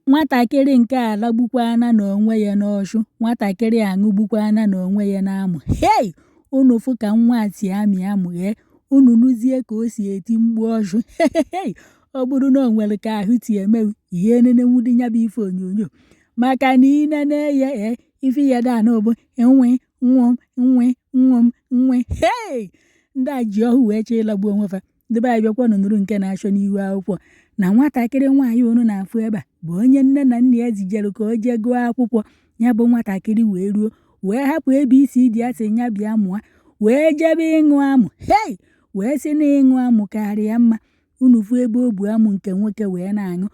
Nwatakịrị nke a alagbukwana n'onwe ya n'Ọshụ, nwatakịrị a aṅụgbukwana n'onwe ya n'Amụ. Hei! Unu fụ ka nwa a si amị amụ ghee, unu nụzie ka o si eti mkpu Ọshụ. Hei! Ọ bụrụ na o nwere ka ahụ si eme gị, ihe enenenwudi ya bụ ife onyonyo. Maka na i nene ya, ee, ife ya dị anụ bụ nwe nwe m nwe nwe m nwe. Hei! Ndị a ji ọhụ wee chọọ ịlagbu onwe fa. ndị be anyị bịakwanụ nụrụ nke na-achọ n'ihu akwụkwọ na nwatakịrị nwaanyị unu na-afụ ebe a bụ onye nne na nna ya zijere ka o jee gụọ akwụkwọ ya bụ nwatakịrị wee ruo wee hapụ ebe isi dị asị ya bịa mụọ wee jebe ịṅụ amụ hei wee sị na ịṅụ amụ karịa mma unu fụ ebe o bu amụ nke nwoke wee na-aṅụ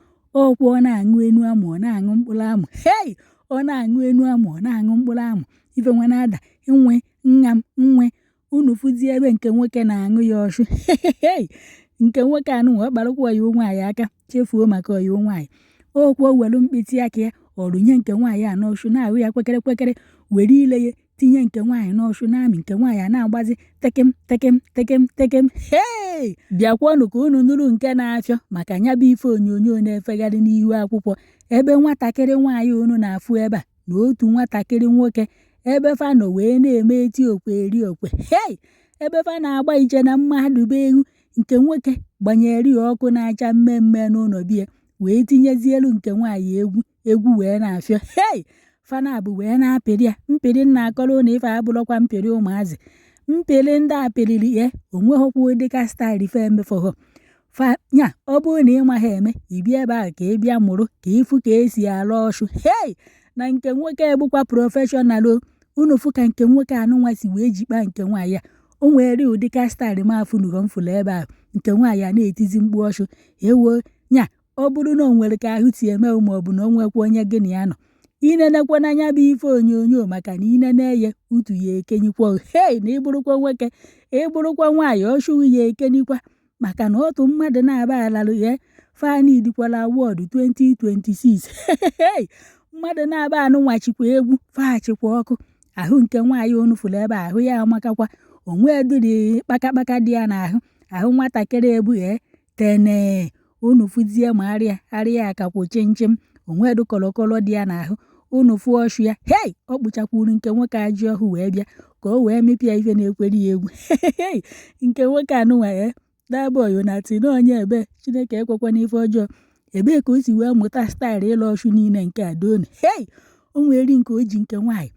ọkwụ ọ na-aṅụ enu amụ ọ na-aṅụ mkpụrụ amụ hei ọ na-aṅụ enu amụ ọ na-aṅụ mkpụrụ amụ ife nwa na-ada nwe nna m nwe unu fụzie ebe nke nwoke na-aṅụ ya ọchụ nke nwoke anụ wee kparakwa ọyịwo nwaanyị aka chefuo maka ọyịwo nwaanyị okwu o welu mkpịtị aka ya ọrụnye nke nwaanyị a n'ọchụ na-ahụ ya kwekere kwekere were ile ya tinye nke nwaanyị n'ọchụ na-amị nke nwaanyị a na-agbazi tekem tekem tekem tekem hei bịakwanụ ka unu nụrụ nke na-achọ maka nya bụ ife onyonyo na-efegharị n'ihu akwụkwọ ebe nwatakịrị nwaanyị unu na-afụ ebe a na otu nwatakịrị nwoke ebe fa nọ wee na-eme eti okwe eri okwe hei ebe fa na-agba iche na mmadụ be egwu nke nwoke gbanyere ya ọkụ na-acha mmemme n'ụlọ bie wee tinyezi elu nke nwaanyị egwu egwu wee na-afịọ hei fana bụ wee na-apịrị ya mpịrị nna akọrọ na ife abụrụkwa mpịrị ụmụazị mpịrị ndị apịrịrị ya onweghịkwa ụdịka staịl ife emefọghọ fa nya ọ bụrụ na ị maghị eme ibi ebe ahụ ka ị bịa mụrụ ka ịfụ ka esi alụ ọshụ hei na nke nwoke bụkwa prọfeshọnal o unu fụ ka nke nwoke anụnwa si wee jikpa nke nwaanyị a o nwere ụdị ka staịlị m afụnugo m fụrụ ebe ahụ nke nwaanyị a na-etizi mkpu ọshụ ewo nya ọ bụrụ na o nwere ka ahụ si eme ma ọ bụ na o nwekwa onye gị na ya nọ inenekwa n'anya bụ ife onyonyo maka na inene ya utu ya ekenyikwa hei na ịbụrụkwa nwoke ịbụrụkwa nwaanyị ọshụghị ya ekenyikwa maka na otu mmadụ na-aba alalụ ya fanidikwala award 2026 mmadụ na-aba anụnwa chikwa egwu fachịkwa ọkụ ahụ nke nwaanyị onu fụrụ ebe ahụ ya amakakwa onwe dịrị kpakakpaka dị ya n'ahụ ahụ nwatakịrị ebughee tene unu fụzie ma arịa arịa akakwụ chimchim onwe dụ kọlọkọlọ dị ya n'ahụ unu fụọ ọchụ ya hei ọ kpụchakwuru nke nwoke ajị ọhụ wee bịa ka o wee mịpịa ife na-ekwere ya egwu nke nwoke anụnwa ya dabọyo na tino onye ebe chineke ekwekwa n'ife ọjọọ ebee ka o si wee mụta staịlụ ịlụ ọchụ niile nke adaoni hei o nwere nke o ji nke nwaanyị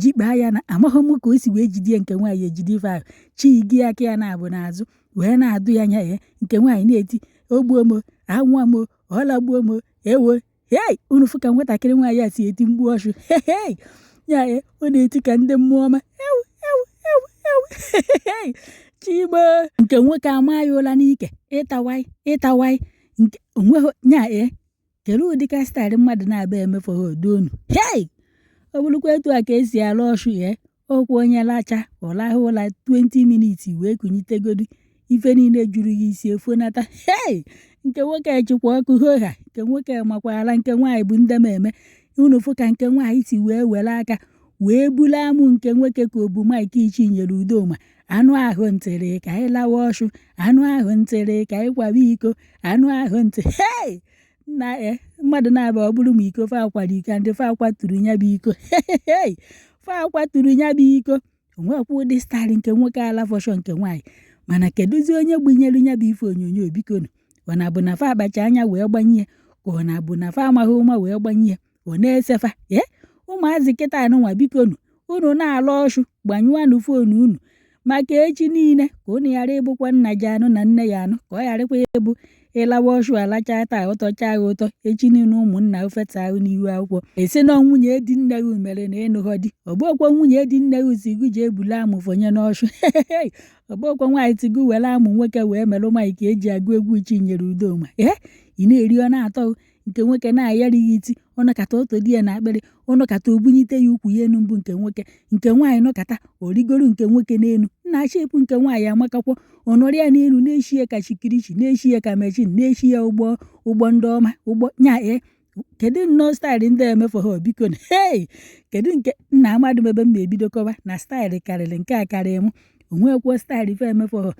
jikpaa ya na amaghị m ka o si wee jide nke nwaanyị ejide ife ahụ chi gị aka ya na-abụ n'azụ wee na-adụ ya nya ya nke nwaanyị na-eti ogbuo m anwụọ m ọlagbuo m ewo hei unu fụ ka nwatakịrị nwaanyị a si eti mgbu ọchụ hei ya e, ọ na-eti ka ndị mmụọ ọma ewu ewu ewu ewu hei chigbo nke nwoke ama ya ụla n'ike ịtawai ịtawai nke onweghị ya e kere ụdị ka staịlị mmadụ na-abịa emefe ha odo unu hei ọ bụrụkwa etu a ka esi alụ ọchụ ya okwu onye lacha ọ lahụ ụla 20 minutes wee kunyitegodi ife niile juru ya isi efonata hei nke nwoke chịkwa ọkụ hoha nke nwoke makwara nke nwaanyị bụ ndị ma eme unu fụ ka nke nwaanyị si wee were aka wee bulu amụ nke nwoke ka obu maịk ichinyere udoma anụ ahụ ntịrị ka anyị lawa ọchụ anụ ahụ ntịrị ka anyị kwaba iko anụ ahụ ntị hei na e mmadụ na-abịa ọ bụrụ ma iko fa akwara iko ndị fa akwaturu ya bụ iko Hey! fa akwaturu ya bụ iko onwekwa ụdị staịlị nke nwoke ala fọshọ nke nwaanyị mana kedụzi onye gbunyere ya bụ ife onyonyo bikonu ọ na-abụ na fa akpacha anya wee gbanye ya ka ọ na-abụ na fa amaghị ụma wee gbanye ya ọ na-esefa ee ụmụazị kịta anụnwa biko nu unu na-alụ ọchụ gbanyụanụ fon unu maka echi niile ka unu ghara ịbụkwa nna ji anụ na nne ya anụ ka ọ gharakwa ịbụ ịlawa ọchụ alachaa taa ụtọchaa gị ụtọ echi niile ụmụnna ofeta ahụ n'ihu akwụkwọ esi na nwunye di nne gị mere na ịnụghọ di ọgbọkwa nwunye di nne gị si gị ji ebule amụ fọnye n'ọchụ ọgbọkwa nwaanyị ti gị were amụ nwoke wee merụ nwaanyị ka eji agụ egwu chinyere udoma ee ị na-eri ọ na-atọ gị nke nwoke na-ayara ya iti ọ nọkata oto di ya na akpịrị ọ nọkata obunyite ya ukwu ya enu mbụ nke nwoke nke nwaanyị nọkata origoro nke nwoke n'elu nna achị ekwu nke nwaanyị amakakwọ ọnọrọ ya n'elu na-eshi ya ka chikirichi na-eshi ya ka mechin na-eshi ya ụgbọ ụgbọ ndị ọma ụgbọ nya e kedu nnọọ staịlụ ndị emefu ha biko na hei kedu nke nna amadụ m ebe m na-ebido kọwa na staịlụ karịrị nke a karịrị m onwekwuo staịlụ ife emefu ha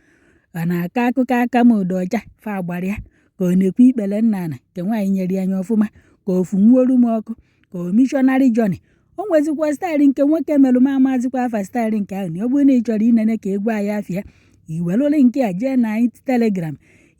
ọ na-akọ akụkọ aka m ụdọ ọcha fa agbara ya ka ọ na-ekwu ikpere nna ana nke nwaanyị nyere ya anya ọfụma ka ofu nwuolu m ọkụ ka o mishọnarị jọni o nwezikwa staịlị nke nwoke merụ m amazikwa afa staịlị nke ahụ na ọ bụrụ na ị chọrọ inene ka egwu anyị afịa iwelụlị nke a jee na anyị telegram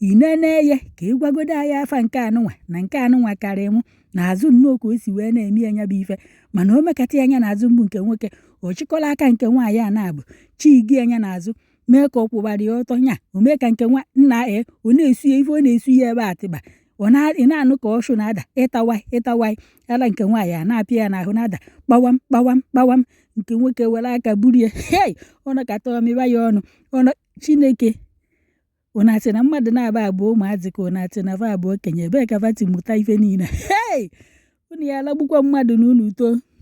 inene ya ka ịgwagodo anyị afa nke anụnwa na nke anụnwa karị mụ na azụ nnọọ ka o si wee na-eme ya nya bụ ife mana o mekata ya anya na azụ mbụ nke nwoke ọ chịkọla aka nke nwaanyị a na-abụ chigi anya na azụ mee ka ọ kwụbara ya ọtọ nya o mee ka nke nwa nna ee ọ na-esu ya ife ọ na-esu ya ebe atịba ọ na- ị na-anụ ka ọshụ na-ada ịtawa ịtawa ara nke nwaanyị a na-apịa ya n'ahụ na-ada kpawam kpawam kpawam nke nwoke were aka buru ya hei ọ nọkata ọmịba ya ọnụ ọnụ chineke ọ na-asị na mmadụ na-aba abụọ ụmụazị ka ọ na-asị na va abụọ okenye ebee ka vati mụta ife niile hei unu ya alagbukwa mmadụ na unu too